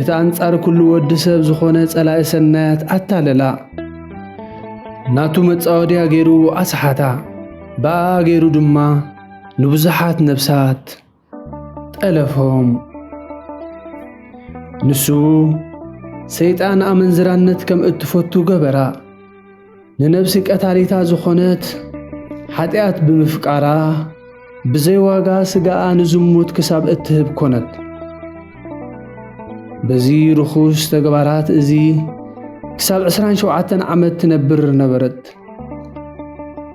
እቲ ኣንጻር ኩሉ ወዲ ሰብ ዝኾነ ጸላኢ ሰናያት ኣታለላ ናቱ መጻወድያ ገይሩ ኣስሓታ ብኣ ገይሩ ድማ ንብዙሓት ነብሳት ጠለፎም ንሱ ሰይጣን ኣመንዝራነት ከም እትፈቱ ገበራ ንነብሲ ቀታሊታ ዝኾነት ሓጢኣት ብምፍቃራ ብዘይ ዋጋ ስጋኣ ንዝሙት ክሳብ እትህብ ኮነት። በዚ ርኹስ ተግባራት እዚ ክሳብ 27 ዓመት ትነብር ነበረት።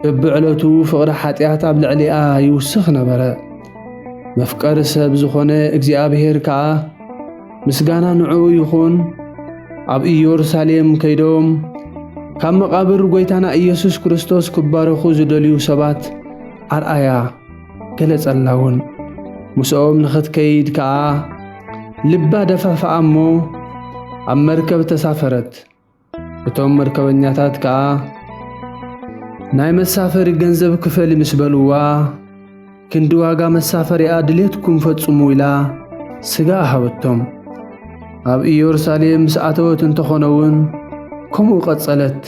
በብዕለቱ ፍቕሪ ሓጢኣት ኣብ ልዕሊኣ ይውስኽ ነበረ። መፍቀሪ ሰብ ዝኾነ እግዚኣብሔር ከኣ ምስጋና ንዕኡ ይኹን ኣብ ኢየሩሳሌም ከይዶም ካብ መቓብር ጐይታና ኢየሱስ ክርስቶስ ክባረኹ ዝደልዩ ሰባት ኣርኣያ ገለጸላ እውን ምስኦም ንኽትከይድ ከኣ ልባ ደፋፍኣ እሞ ኣብ መርከብ ተሳፈረት። እቶም መርከበኛታት ከኣ ናይ መሳፈሪ ገንዘብ ክፈሊ ምስ በልዋ ክንዲ ዋጋ መሳፈሪኣ ድሌትኩም ፈጽሙ ኢላ ስጋ ሃበቶም። ኣብ ኢየሩሳሌም ምስ ኣተወት እንተኾነ እውን ከምኡ ቀጸለት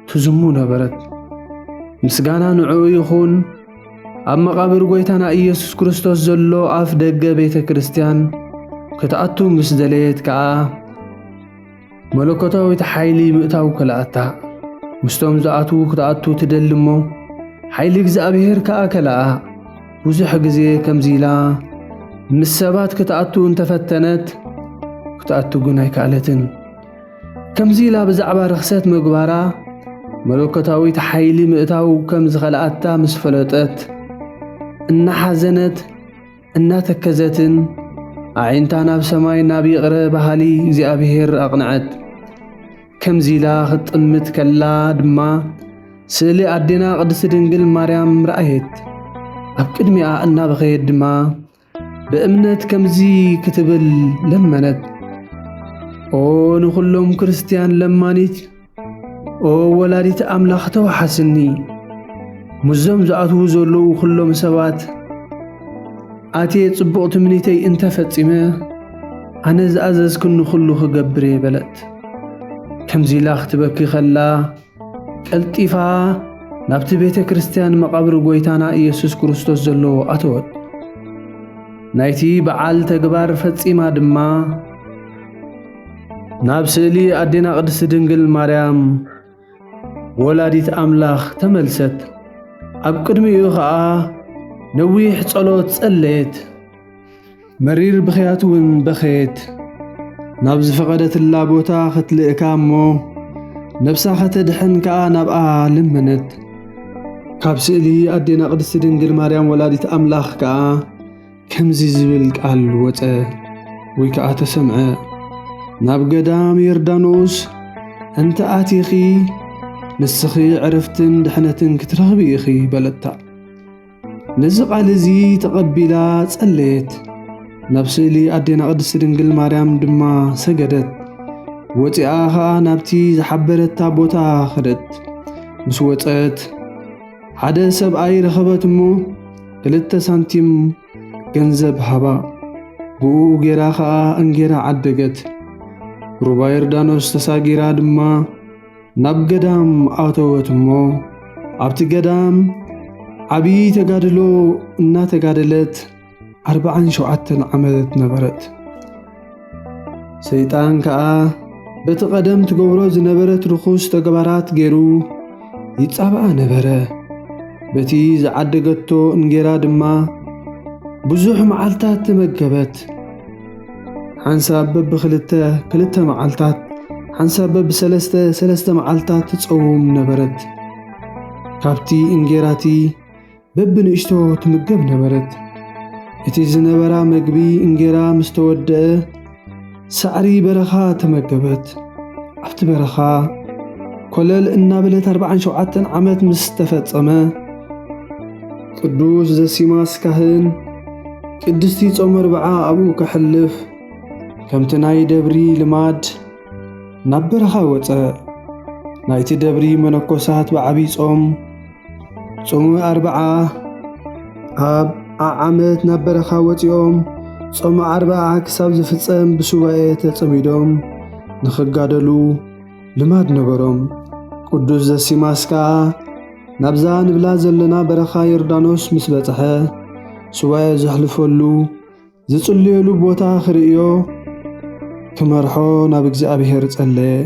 ትዝሙ ነበረት። ምስጋና ንዕኡ ይኹን። ኣብ መቓብር ጐይታና ኢየሱስ ክርስቶስ ዘሎ ኣፍ ደገ ቤተ ክርስቲያን ክትኣቱ ምስ ደለየት ከኣ መለኮታዊት ሓይሊ ምእታው ከለኣታ። ምስቶም ዝኣትዉ ክትኣቱ ትደሊ እሞ ሓይሊ እግዚኣብሔር ከኣ ከለኣ። ብዙሕ ግዜ ከምዚ ኢላ ምስ ሰባት ክትኣቱ እንተፈተነት ክትኣቱ ግን ኣይከኣለትን። ከምዚ ኢላ ብዛዕባ ርኽሰት ምግባራ መለኮታዊት ሓይሊ ምእታው ከም ዝኸልኣታ ምስ ፈለጠት እናሓዘነት እናተከዘትን ኣዒንታ ናብ ሰማይ ናብ ይቕረ በሃሊ እግዚኣብሔር ኣቕንዐት። ከምዚ ኢላ ክትጥምት ከላ ድማ ስእሊ ኣዴና ቅድስቲ ድንግል ማርያም ረኣየት። ኣብ ቅድሚኣ እናበኸየት ድማ ብእምነት ከምዚ ክትብል ለመነት፣ ኦ ንዅሎም ክርስትያን ለማኒት ኦ ወላዲት ኣምላኽ ተዋሓስኒ ምስዞም ዝኣትዉ ዘለዉ ዅሎም ሰባት ኣትየ ጽቡቕ ትምኒተይ እንተ ፈጺመ ኣነ ዝኣዘዝክኒ ዅሉ ኽገብር እየ በለት። ከምዚ ኢላ ኽትበኪ ኸላ ቀልጢፋ ናብቲ ቤተ ክርስትያን መቓብር ጐይታና ኢየሱስ ክርስቶስ ዘለዎ ኣተወት። ናይቲ በዓል ተግባር ፈጺማ ድማ ናብ ስእሊ ኣዴና ቅድስቲ ድንግል ማርያም ወላዲት ኣምላኽ ተመልሰት። ኣብ ቅድሚኡ ኸኣ ነዊሕ ጸሎት ጸለየት፣ መሪር ብኽያት እውን በኸየት። ናብ ዝፈቐደትላ ቦታ ኽትልእካ እሞ ነብሳ ኸተድሕን ከኣ ናብኣ ለመነት። ካብ ስእሊ ኣዴና ቅድስቲ ድንግል ማርያም ወላዲት ኣምላኽ ከኣ ከምዚ ዝብል ቃል ወጸ ወይ ከኣ ተሰምዐ፣ ናብ ገዳም ዮርዳኖስ እንተ ኣቲኺ ንስኺ ዕርፍትን ድሕነትን ክትረኽቢ ኢኺ በለታ። ነዚ ቃል እዚ ተቐቢላ ጸለየት፣ ናብ ስእሊ ኣዴና ቅድስቲ ድንግል ማርያም ድማ ሰገደት። ወፂኣ ኸዓ ናብቲ ዝሓበረታ ቦታ ኸደት ምስ ወፀት ሓደ ሰብኣይ ረኸበት እሞ ክልተ ሳንቲም ገንዘብ ሃባ። ብኡ ጌራ ኸኣ እንጌራ ዓደገት። ሩባ ዮርዳኖስ ተሳጊራ ድማ ናብ ገዳም ኣተወት እሞ ኣብቲ ገዳም ዓብዪ ተጋድሎ እናተጋደለት ዓርብዓን ሸውዓተን ዓመት ነበረት። ሰይጣን ከኣ በቲ ቐደም ትገብሮ ዝነበረት ርኹስ ተግባራት ገይሩ ይጻብኣ ነበረ። በቲ ዝዓደገቶ እንጌራ ድማ ብዙሕ መዓልታት ተመገበት። ሓንሳብ በብኽልተ ክልተ መዓልታት፣ ሓንሳብ በብሰለስተ ሰለስተ መዓልታት ትጸውም ነበረት። ካብቲ እንጌራቲ በብንእሽቶ ትምገብ ነበረት። እቲ ዝነበራ መግቢ እንጌራ ምስ ተወድአ ሳዕሪ በረኻ ተመገበት። ኣብቲ በረኻ ኮለል እናበለት ኣርባዓን ሸውዓተን ዓመት ምስ ተፈጸመ ቅዱስ ዘሲማስ ካህን ቅድስቲ ጾመ ኣርብዓ ኣብኡ ከሕልፍ ከምቲ ናይ ደብሪ ልማድ ናብ በረኻ ወጸ። ናይቲ ደብሪ መነኮሳት ብዓብዪ ጾም ጾመ ኣርብዓ ኣብ ዓዓመት ናብ በረኻ ወፂኦም ጾመ ኣርብዓ ክሳብ ዝፍጸም ብሱባኤ ተጸሚዶም ንኽጋደሉ ልማድ ነበሮም። ቅዱስ ዘሲማስ ከኣ ናብዛ ንብላ ዘለና በረኻ ዮርዳኖስ ምስ በጽሐ ሱባኤ ዘሕልፈሉ ዝጽልየሉ ቦታ ክርእዮ ክመርሖ ናብ እግዚኣብሔር ጸለየ።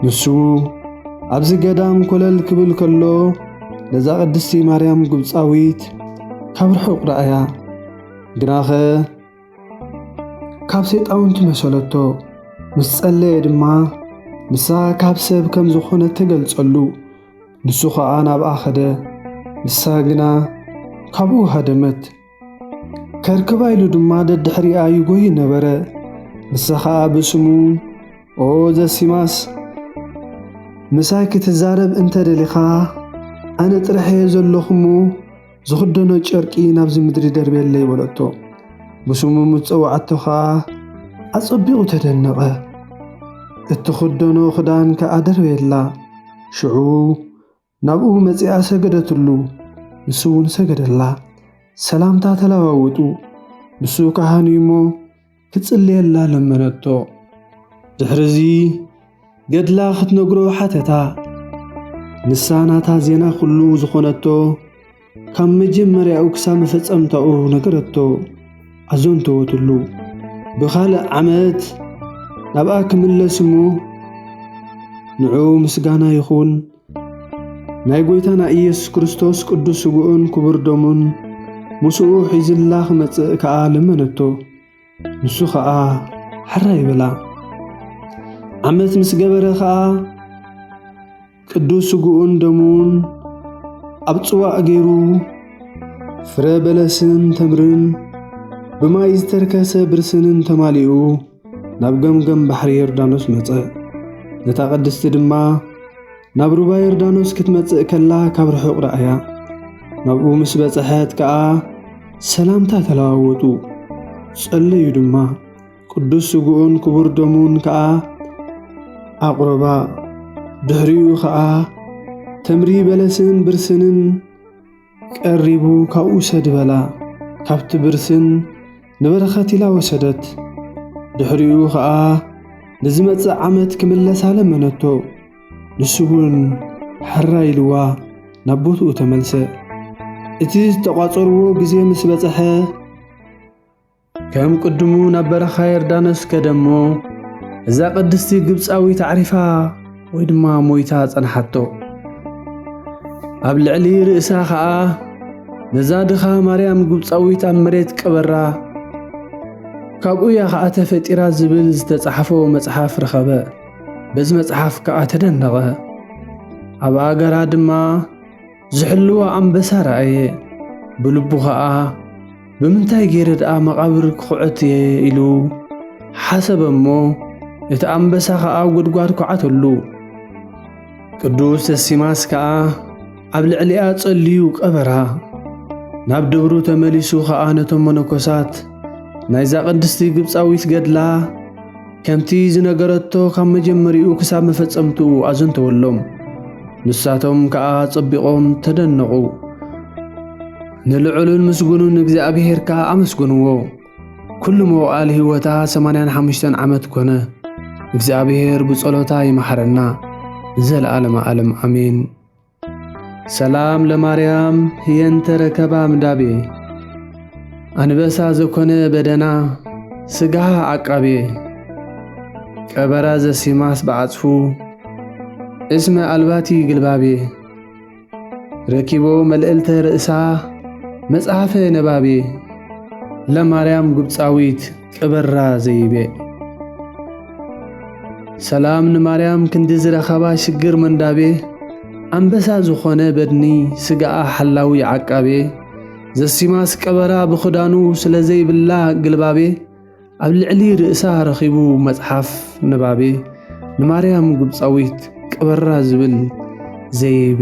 ንሱ ኣብዚ ገዳም ኮለል ክብል ከሎ ነዛ ቅድስቲ ማርያም ግብፃዊት ካብ ርሑቕ ረኣያ። ግናኸ ካብ ሰይጣውንቲ መሰለቶ። ምስ ጸለየ ድማ ንሳ ካብ ሰብ ከም ዝኾነ ተገልጸሉ። ንሱ ኸኣ ናብኣ ኸደ፣ ንሳ ግና ካብኡ ሃደመት። ከርክባ ኢሉ ድማ ደድሕሪኣ ይጎይ ነበረ። ንሳ ኸኣ ብስሙ ኦ ዘሲማስ ምሳይ ክትዛረብ እንተ ደሊኻ ኣነ ጥራሕ እየ ዘለኹ እሞ ዝኽደኖ ጨርቂ ናብዚ ምድሪ ደርብየለይ በለቶ። ብስሙ ምስ ጸውዓቶ ኸኣ ኣጸቢቑ ተደነቐ። እትኽደኖ ኽዳን ከኣ ደርበየላ። ሽዑ ናብኡ መጺኣ ሰገደትሉ፣ ንሱ እውን ሰገደላ። ሰላምታ ተለዋወጡ። ንሱ ካህን እዩ እሞ ክጽልየላ ለመነቶ። ድሕርዚ ገድላ ክትነግሮ ሓተታ። ንሳ ናታ ዜና ኩሉ ዝኾነቶ ካብ መጀመርያኡ ክሳብ መፈጸምታኡ ነገረቶ፣ ኣዘንተወትሉ። ብኻልእ ዓመት ናብኣ ክምለስ እሞ ንዕኡ ምስጋና ይኹን ናይ ጐይታና ኢየሱስ ክርስቶስ ቅዱስ ስግኡን ክቡር ደሙን ምስኡ ሒዝላ ክመጽእ ከኣ ለመነቶ። ንሱ ኸኣ ሕራይ በላ። ዓመት ምስ ገበረ ኸኣ ቅዱስ ስግኡን ደሙን ኣብ ጽዋእ ገይሩ ፍረ በለስን ተምርን ብማይ ዝተርከሰ ብርስንን ተማሊኡ ናብ ገምገም ባሕሪ ዮርዳኖስ መጸ። ነታ ቅድስቲ ድማ ናብ ሩባ ዮርዳኖስ ክትመጽእ ከላ ካብ ርሑቕ ረኣያ። ናብኡ ምስ በጽሐት ከኣ ሰላምታ ተለዋወጡ፣ ጸለዩ ድማ። ቅዱስ ስግኡን ክቡር ደሙን ከኣ ኣቕረባ። ድሕሪኡ ኸኣ ተምሪ በለስን ብርስንን ቀሪቡ ካብኡ ውሰድ በላ። ካብቲ ብርስን ንበረኸት ኢላ ወሰደት። ድሕሪኡ ኸኣ ንዝመጽእ ዓመት ክምለሳ ለመነቶ። ንሱ እውን ሕራይ ኢልዋ ናብ ቦትኡ ተመልሰ። እቲ ዝተቋጸርዎ ግዜ ምስ በጽሐ፣ ከም ቅድሙ ናብ በረኻ የርዳኖስ ከደ እሞ እዛ ቅድስቲ ግብፃዊት ኣዕሪፋ ወይ ድማ ሞይታ ጸንሓቶ። ኣብ ልዕሊ ርእሳ ኸኣ ነዛ ድኻ ማርያም ግብፃዊት ኣብ መሬት ቀበራ። ካብኡ እያ ኸኣ ተፈጢራ ዝብል ዝተጻሕፎ መጽሓፍ ረኸበ። በዚ መጽሓፍ ከኣ ተደነቐ። ኣብ ኣገራ ድማ ዝሕልዋ ኣንበሳ ረኣየ። ብልቡ ኸኣ ብምንታይ ገይረ ደኣ መቓብር ክዅዕት እየ ኢሉ ሓሰበ እሞ እቲ ኣንበሳ ኸኣ ኣብ ጐድጓድ ኰዓተሉ። ቅዱስ ደሲማስ ከኣ ኣብ ልዕሊኣ ጸልዩ ቀበራ። ናብ ደብሩ ተመሊሱ ኸኣ ነቶም መነኮሳት ናይዛ ቅድስቲ ግብጻዊት ገድላ ከምቲ ዝነገረቶ ካብ መጀመሪኡ ክሳብ መፈጸምትኡ ኣዘንተወሎም። ንሳቶም ከኣ ጸቢቖም ተደነቑ። ንልዑሉን ምስጉኑን እግዚኣብሔር ከኣ ኣመስገንዎ። ኩሉ መዋእል ሕይወታ ሰማንያን ሓሙሽተን ዓመት ኮነ። እግዚኣብሔር ብጸሎታ ይመሓረና። ዘለዓለመ ዓለም ኣሜን። ሰላም ለማርያም ህየንተ ረከባ ምዳቤ ኣንበሳ ዘኮነ በደና ስጋሃ ዓቃቤ ቀበራ ዘሲማስ በዓጽፉ እስመ ኣልባቲ ግልባቤ ረኪቦ መልእልተ ርእሳ መጽሐፈ ነባቤ ለማርያም ግብፃዊት ቅበራ ዘይቤ ሰላም ንማርያም ክንዲ ዝረኸባ ሽግር መንዳቤ ኣንበሳ ዝኾነ በድኒ ስጋኣ ሓላዊ ዓቃቤ ዘሲማስ ቀበራ ብኽዳኑ ስለ ዘይብላ ግልባቤ ኣብ ልዕሊ ርእሳ ረኺቡ መጽሓፍ ንባቤ ንማርያም ግብፃዊት ቅበራ ዝብል ዘይቤ